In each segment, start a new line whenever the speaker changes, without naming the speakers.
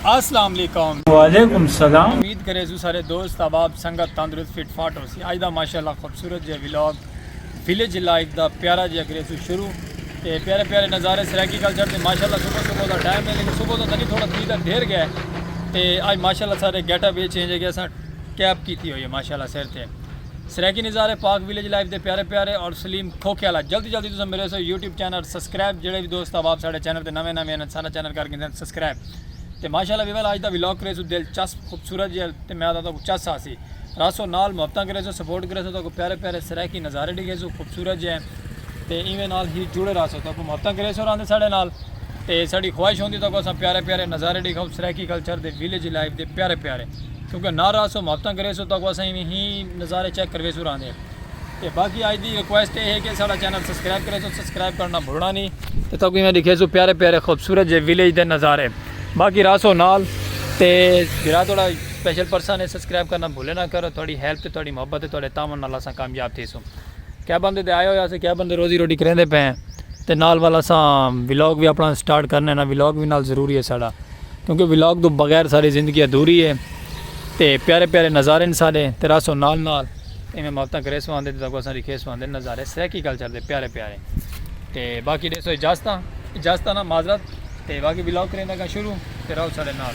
اسلام علیکم وعلیکم السلام امید کرے سو سارے دوست احباب سنگت تندرست فٹ فاٹ ہو سی اج دا ماشاءاللہ خوبصورت جے ولاگ ویلیج لائف دا پیارا جے کرے سو شروع تے پیارے پیارے نظارے سرائیکی کلچر تے ماشاءاللہ صبح صبح دا ٹائم ہے لیکن صبح دا تنی تھوڑا تھی دا دیر گیا ہے تے اج ماشاءاللہ سارے گیٹ اپ وچ چینج ہے گیا سا کیپ کیتی ہوئی ہے ماشاءاللہ سر تے سرائیکی نظارے پاک ویلیج لائف دے پیارے پیارے اور سلیم کھوکھے والا جلدی جلدی تساں میرے سو یوٹیوب چینل سبسکرائب جڑے وی دوست احباب ساڈے چینل تے نویں نویں ہن سارا چینل کر گھندن سبسکرائب تے ماشاءاللہ ویول اج دا ولاگ کرے سو دل چسپ خوبصورت جیل تے میں آتا تو چس آسی راسو نال محبتاں کرے سو سپورٹ کرے سو تو کو پیارے پیارے سرائیکی نظارے ڈیکھے سو خوبصورت جے تے ایویں نال ہی جڑے رہسوں تہاکوں محبتاں کریسوں رہندے ساڈے نال تے ساڈی خواہش ہوندی تہاکوں اساں پیارے پیارے نظارے ڈیکھاؤں سرائیکی کلچر دے ویلیج لائف دے پیارے پیارے کیونکہ نال رہسوں محبتاں کریسوں تہاکوں اساں ایویں ہی نظارے چیک کرویسوں رہندے تے باقی اج دی ریکویسٹ اے ہے کہ ساڈا چینل سبسکرائب کریسوں سبسکرائب کرنا بھلنا نی تے تہاکوں ایویں ڈیکھیسوں پیارے پیارے خوبصورت جے ویلیج دے نظارے باقی رہسوں نال تے جیڑھا تہاڈا سپیشل پرسن اے سبسکرائب کرنا بھلے نہ کرو تہاڈی ہیلپ تے تہاڈی محبت تے تہاڈے تعاون نال اساں کامیاب تھیسوں۔ کیا بندے تے آیا ہویا سے کیا بندے روزی روٹی کریندے پے ہیں تے نال وال اساں ولاگ بھی اپنا سٹارٹ کرنے نا ولاگ بھی نال ضروری ہے ساڑا کیونکہ ولاگ تو بغیر ساڑی زندگی ادھوری ہے تے پیارے پیارے نظارے ہیں ساڑے تے راسو نال نال ایمیں مابتاں کرے سو آندے تے تاکہ اساں ریکھے سو آندے نظارے سریکی کلچر دے پیارے پیارے تے باقی دے سو اجازتاں اجازتاں نا معذرت تے باقی ولاگ کریندہ گا شروع تے راؤ ساڑے نال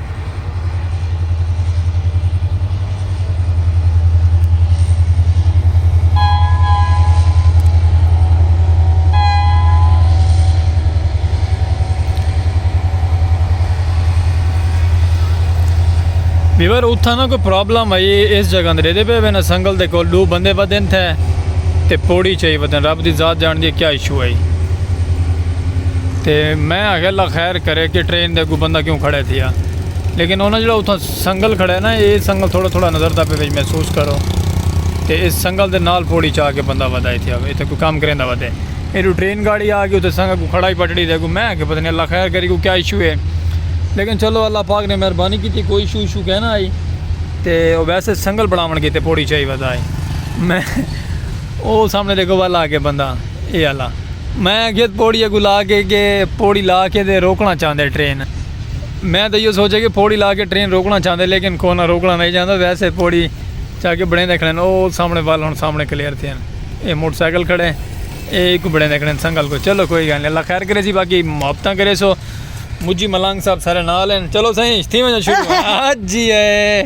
ویور اتھا نا کوئی پرابلم آئی اس جگہ اندر دے پہ وینا سنگل دے کول دو بندے ودن تھے تے پوڑی چاہی ودن رب دی ذات جان دی کیا ایشو آئی تے میں آگے اللہ خیر چیک کرے کہ ٹرین دے اگوں بندہ کیوں کھڑے تھیا لیکن انہاں جڑا اتھاں سنگل کھڑے نا اے سنگل تھوڑا تھوڑا نظر دا پے وچ محسوس کرو تے اس سنگل دے نال پوڑی چا کے بندہ ودائے تھیا وے اتھے کوئی کام کریں دا ودے ایڈو ٹرین گاڑی آ گئی اتھے سنگ اگوں کھڑا ہی پٹڑی دے اگوں میں کہ پتہ نہیں اللہ خیر کرے کوئی کیا ایشو ہے لیکن چلو اللہ پاک نے مہربانی کیتی کوئی ایشو ایشو کہنا آئی تے ویسے سنگل بناون کیتے پوڑی چائی ودائے میں او سامنے ݙیکھو ول آ ڳئے بندہ اے آلا۔ میں آکھیت پوڑی اڳوں لا کے کہ پوڑی لا کے تے روکݨا چاہندے ٹرین۔ میں تاں ایہو سوچیا کہ پوڑی لا کے ٹرین روکݨا چاہندے لیکن کونا روکݨا نئیں چاہندا ویسے پوڑی چا کے بݨیندے کھڑن او سامنے ول ہݨ سامنے کلیئر تھئن اے موٹر سائیکل کھڑے اے ایکوں بݨیندے کھڑن سنگل کوں چلو کوئی گالھ نئیں اللہ خیر کریسی باقی محبتاں کریسو مجی ملانگ صاحب سارے نال ہن چلو سئیں تھیوݨ شروع ہاں جی اے۔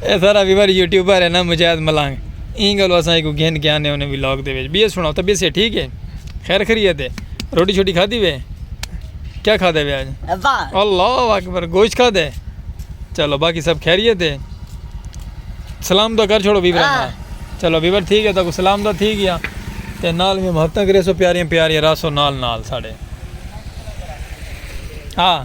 اے سارا ویور یوٹیوبر ہے نا مجاہد ملنگ ایں گلو اساں ایکو گھن کے آنے ہونے ولاگ دے وچ بیس سناؤ طبیعت سے ٹھیک ہے خیر خریت ہے روٹی چھوٹی کھا دی وے کیا کھا دے وے آج اللہ اکبر گوشت کھا دے چلو باقی سب خیریت ہے سلام تو کر چھوڑو ویور ہاں۔ چلو ویور ٹھیک ہے تو سلام تو تھی گیا تے نال میں محبتاں کرے سو پیاریاں پیاریاں راسو نال نال ساڑے ہاں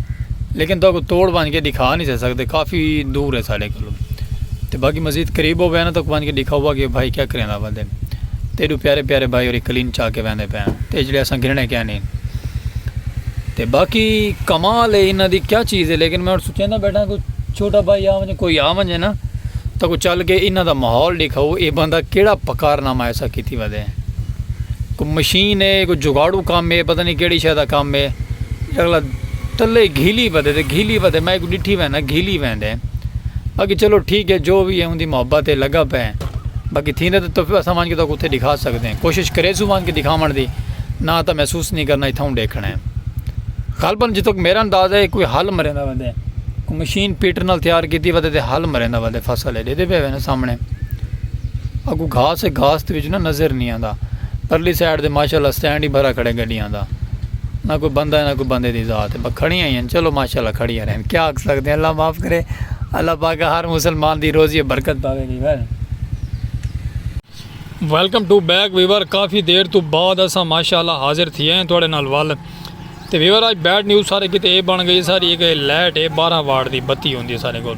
لیکن تہاں کوں توڑ بھنج کے ڈکھا نی سے سکدے کافی دور ہے ساڈے کولوں تے باقی مزید قریب ہووے نا تہاں کوں بھنج کے ڈکھا ہوا کہ بھائی کیا کریندا پے دے تے ایڈو پیارے پیارے بھائی ہوری کلین چا کے ویندے پے ہن تے جیڑھے اساں گھننے کیا نی تے باقی کمال ہے انہاں دی کیا چیز ہے لیکن میں ہن سوچیندا بیٹھاں کوئی چھوٹا بھائی آ ونجے کوئی آ ونجے نا تہاں کوں چل کے انہاں دا ماحول ڈکھاؤ اے بندہ کیڑا پکار نامہ ایسا کیتی ودے کوئی مشین ہے کوئی جگاڑو کم ہے پتہ نی کیڑی شے دا کم ہے اگلا تلے گھیلی ودے تے گھیلی ودے میں کو ڈٹھی ویندے گھیلی ویندے باقی چلو ٹھیک ہے جو بھی ہے ان دی محبت ہے لگا پے باقی تھیندے تو تفیو اساں وان کے تو کتے دکھا سکتے ہیں کوشش کرے سو وان کے دکھاون دی نہ تا محسوس نہیں کرنا اتھاں ڈیکھنا ہے غالبا جتھے تک میرا اندازہ ہے کوئی حل مریندا ویندے کوئی مشین پیٹر نال تیار کیتی ودے تے حل مریندا ودے فصل ہے دیدے پے ویندے سامنے اگو گھاس ہے گھاس تے وچ نہ نظر نہیں آندا پرلی سائیڈ تے ماشاءاللہ سٹینڈ ہی بھرا کھڑے گڈیاں دا نہ کوئی بندہ ہے نہ کوئی بندے دی ذات ہے بس کھڑیاں ہی ہیں چلو ماشاء اللہ کھڑیاں رہن کیا آکھ سکدے ہیں اللہ معاف کرے اللہ پاک ہر مسلمان دی روزی ہے برکت پاوے viewer. Welcome to back viewer کافی دیر تو بعد اساں ماشاء اللہ حاضر تھیے ہیں تواڈے نال ول تے ویور اج بیڈ نیوز سارے کیتے اے بن گئی ساری اے کہ لائٹ اے بارہ واٹ دی بتی ہوندی ہے سارے کول۔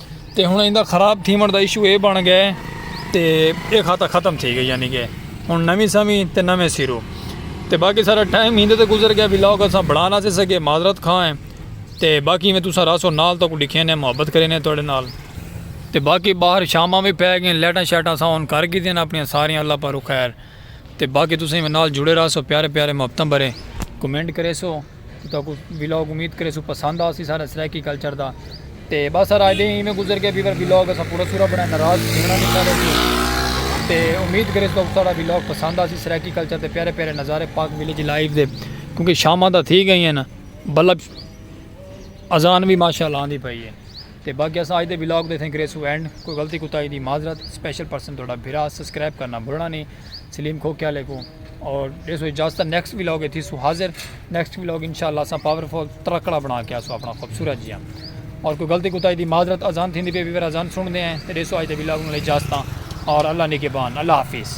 تے ہن ایندا خراب تھیوݨ دا ایشو اے بݨ ڳئے تے اے خاتا ختم تھی ڳئے یعنی کہ ہن نویں سویں تے نویں سیرو تے باقی سارا ٹائم ہیندے تے گزر گیا ویلا اوکا سا بڑھا نہ سے سکے معذرت خواہ ہیں تے باقی میں تساں راسو نال تو کو ڈکھے نے محبت کرے نے تواڈے نال تے باقی باہر شاماں وی پے گئے لیٹاں شیٹاں سا ہن کر گئی دین اپنی ساری اللہ پارو خیر تے باقی تساں میں نال جڑے راسو پیارے پیارے محبتاں بھرے کمنٹ کرے سو تہاکوں ولاگ امید کریسوں پسند آسی سارا سرائیکی کلچر دا تے بس سارا اجے ایویں گزر گیا بیور ولاگ اسا پورا سورا بنایا ناراض تھیونا نہیں سارے توں تے امید کریسوں تہاکوں سارا ولاگ پسند آسی سرائیکی کلچر دے پیارے پیارے نظارے پاک ولیج لائیو دے کیونکہ شاماں تاں تھی گئیاں نا بلب اذان وی ماشاءاللہ آندی پئی ہے۔ تے باقی اساں اج دے ولاگ دے اتھیں کریسوں اینڈ کوئی غلطی کوتاہی دی معذرت اسپیشل پرسن تہاڈا بھرا سسکرائب کرنا بھلنا نی سلیم کھوکھے آلے کوں اور ڈیسوں اجازت نیکسٹ ولاگ اچ تھیسوں حاضر نیکسٹ ولاگ انشاءاللہ اساں پاور فل ترکڑا بنا کے آسوں اپنا خوبصورت جیاں اور کوئی غلطی کوتاہی دی معذرت اذان تھیندی پئی ویور اذان سن دے ہیں تے ڈیسوں اج دے ولاگ نال اجازتاں اور اللہ نگہبان اللہ حافظ